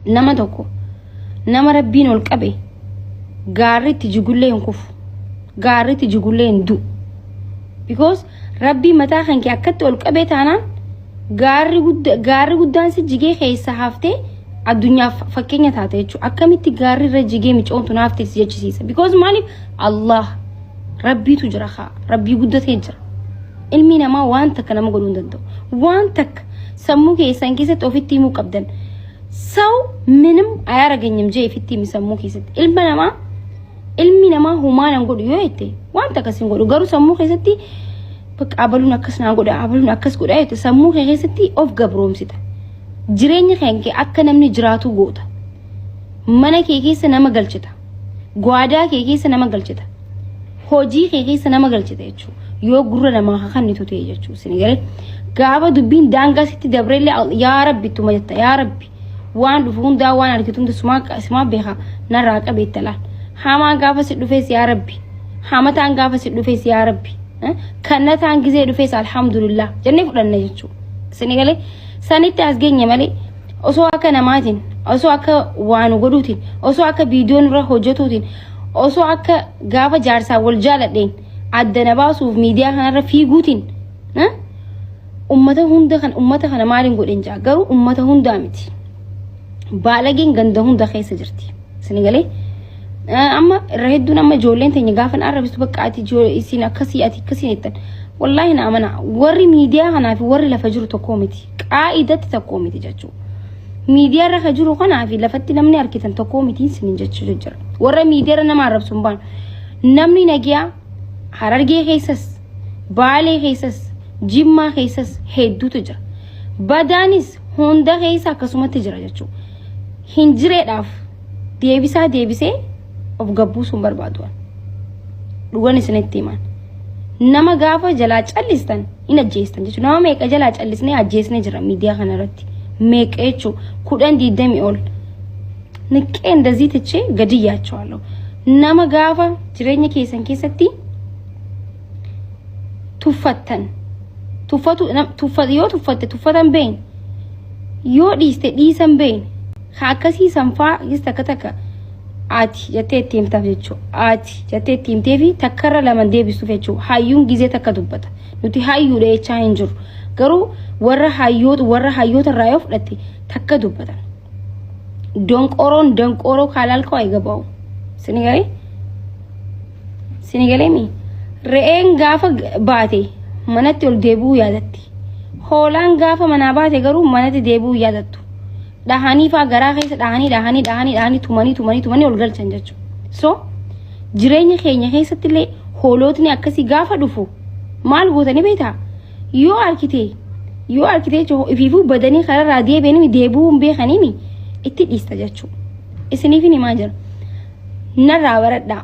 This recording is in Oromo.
nama tokko nama rabbiin ol qabe gaarritti jigullee hin kufu gaarritti jigullee hin du'u because rabbii mataa kan kee akkatti ol qabee taanaan gaarri gudda gaarri guddaan si jigee keessa haftee addunyaaf fakkeenya taate jechuudha akkamitti gaarri irra jigee micoomtu naaf ta'e si jechisiisa because maaliif allah rabbiitu jira kaa rabbii guddatee jira Ilmi namaa waan takka nama godhuu hin danda'u. Waan takka sammuu keessan keessatti ofitti himuu qabdan. Saw minim ayaara ganyam jee ofitti himi sammuu keessatti. Ilma namaa ilmi namaa humaan hin godhu yoo jette waan takkas hin godhu garuu sammuu keessatti bakka abaluun akkas naa godha abaluun akkas godha jette sammuu kee keessatti of gabroomsita. Jireenya kee akka namni jiraatu goota. Mana kee keessa nama galchita. Gwaadaa kee keessa nama galchita. Hojii kee keessa nama galchita jechuudha. Yoo gurra namaa hakannitu ta'e jechuudha. Isin garee gaafa dubbiin daangaa sitti dabreellee al- yaa rabbi ittuma jetta yaa rabbi waan dhufu hundaa waan argitu hunda sumaa qa- sumaa beeka narraa qabeetta laal. Hamaan gaafa si dhufees yaa rabbi. Hamataan gaafa si dhufees yaa rabbi. Eh? Kannataan gizee dhufees alhamdulillah jennee fudhanna jechuudha. Isin galee sanitti as geenye malee osoo akka namaatiin osoo akka waan godhuutiin osoo akka viidiyoo nurra hojjetuutiin osoo akka gaafa jaarsaa wal jaaladheen adda na baasuuf miidiyaa kanarra fiiguutiin ummata hunda kan ummata kana maaliin godhin jaa garuu ummata hundaa miti baalageen ganda hunda keessa jirti sini galee amma irra hedduun amma ijoolleen teenya gaafa na arrabistu bakka ati isin akkasii ati akkasii jettan wallaahi na amana warri miidiyaa kanaa fi warri lafa jiru tokkoo miti qaa'idatti tokkoo miti jechuu miidiyaa irra ka jiru kanaa fi lafatti namni argitan tokkoo miti isinin jechuu jira warra miidiyaa irra nama arrabsu hin baanu namni nagiyaa harargee keessas baalee keessas jimmaa keessas hedduutu jira badaanis hunda keessa akkasumatti jira jechuu hin jireedhaaf deebisaa deebisee of gabbuusuun barbaadu an. dhugan isinitti himan nama gaafa jalaa callistan hin ajjeestan jechuudha nama meeqa jalaa callisnee ajjeesnee jira miidiyaa kana irratti meeqa jechuu kudhan diidamii ol niqqee indazii tichee gadi yaachawaalloo nama gaafa jireenya keessan keessatti tuffattan tuffatu nam- tuffa- yoo tuffatte tuffatan beeyne yoo dhiiste dhiisan beeyne Kan akkasii sanfaa gis takka takka ati jettee itti himtaaf jechuudha. Ati jettee itti himtee fi takkarra lama deebisuuf jechuudha. Hayyuun gizee takka dubbata. Nuti hayyuudha jechaa hin jiru. Garuu warra hayyoota warra hayyoota irraa yoo fudhatte takka dubbatan. Donqoroon donqoroo kaalaal koo eega ba'u. Sini galee? Sini galee mi? Re'een gaafa baate manatti ol deebi'uu yaadatti. Hoolaan gaafa manaa baate garuu manatti deebi'uu yaadattu. dhahanii faa garaa keessa dhahanii dhahanii dhahanii dhahanii tumanii tumanii tumanii ol galchan jechuudha. So jireenya keenya keessatti illee hoolootni akkasii gaafa dhufu maal gootanii beektaa? Yoo argite yoo argite jechuun ifiifuu badanii kararraa deebi'anii deebi'uu hin beekaniin itti dhiista jechuudha. Isiniif himaa jira. Narraa baradhaa.